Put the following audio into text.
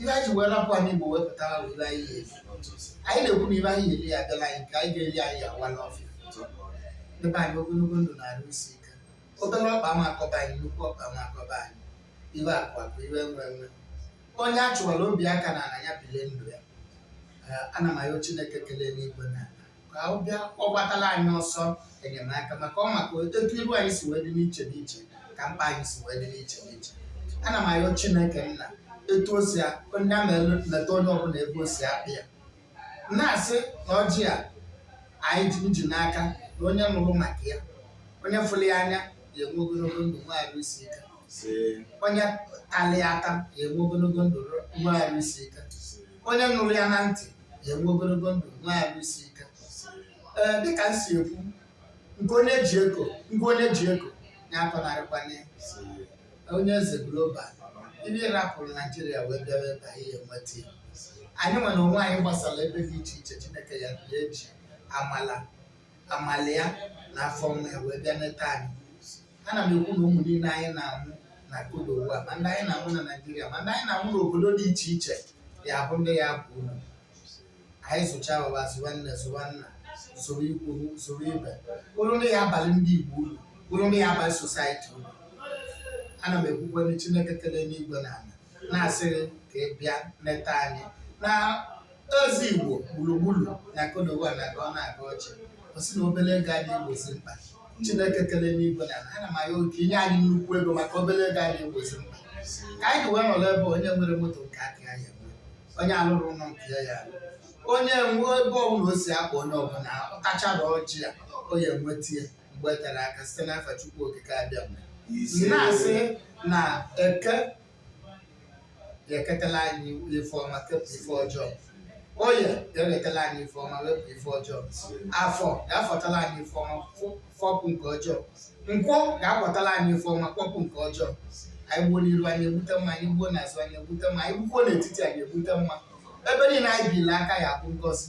ife anyị ji wee rapụ anị Igbo wee pụta ife anyị ga-eri anyị na-ekwu na ife anyị ga-eri ya abịala anyị nke ga-eri anyị awa n'ọfịa nye anyị ogologo ndụ na arụ isi ike obere ọkpa ama akọba anyị nnukwu ọkpa ama akọba anyị ife akụ akụ ife enwe enwe onye a chụwara obi aka na ala ya bilie ndụ ya ana m ayọ Chineke kele enuigwe na ala ka ọ bịa ka ọ gbatala anyị ọsọ enyemaka maka ọ maka etu iru anyị si wee dị n'iche n'iche ka mkpa anyị si wee dị n'iche n'iche ana m ayọ chineke nna etu o si a- onye a na-eleta onye ọbụla ebe o si akpa ya na-asị na ọjị a anyị ji m ji n'aka na onye nụrụ maka ya onye fụrụ ya anya ya enwe ogologo ndụ nwe arụ isi ike onye talị ata ya enwe ogologo ndụ nwe arụ isi ike onye nụrụ ya na ntị ya enwe ogologo ndụ nwe arụ isi ike ee dịka m si ekwu nke onye ji eko nke onye ji eko ya akọnarịkwana onye eze global ife rapụrụ naijiria wee bịara ebe anyị enweta ya anyị nwere onwe anyị gbasara ebe dị iche iche chineke ya bịa eji amala amala ya na afọ ọma ya wee bịa neta anyị ana m ekwu na ụmụ niile anyị na-amụ na Côte d'Ivoire ma ndị anyị na-amụ na naijiria ma ndị anyị na-amụ n'obodo dị iche iche ya bụ ndị ya-aba uru anyị zụcha ụwa zụwa nne zụwa nna zụrụ ikwu zụrụ ibe bụrụ ndị ya-abalị ndị igbo uru bụrụ ndị ya-abalị society uru ana m ekwukwanụ chineke kele enuigwe na ala na-asị gị ka ị bịa neta anyị na Eze Igbo gburugburu na Côte d'Ivoire na-agọ ọ na-agọ ọjị ọ sị na obere ego adị egbozi mkpa Chineke kere enuigwe na ala ana m ayọ ka i nye anyị nnukwu ego maka obere ego adị egbozi mkpa ka anyị ji wee nọrọ ebe a, onye enwerọ moto nke aka ya ya enwe onye alụrọ ụlọ nke ya ya alụ onye nwe ebe ọbụla o si akpa onye ọbụla ọ tachara ọjị a ọ ya-enweta ya mgbe eterọ aka site n'afa Chukwu Okike Abịama na-asị na eke ya-eketala anyị ife ọma kepụ ife ọjọọ oye ya-ewetala anyị ife ọma wepụ ife ọjọọ afọ ga-afọtala anyị ife ọma fọ- fọpụ nke ọjọọ nkwọ ga-akwọtala anyị ife ọma kwọpụ nke ọjọọ anyị gbuo n'iru anyị egbute mma anyị gbuo n'azụ anyị egbute mma anyị gbukwuo n'etiti anyị egbute mma ebe niile anyị bili aka ya bụ ngozi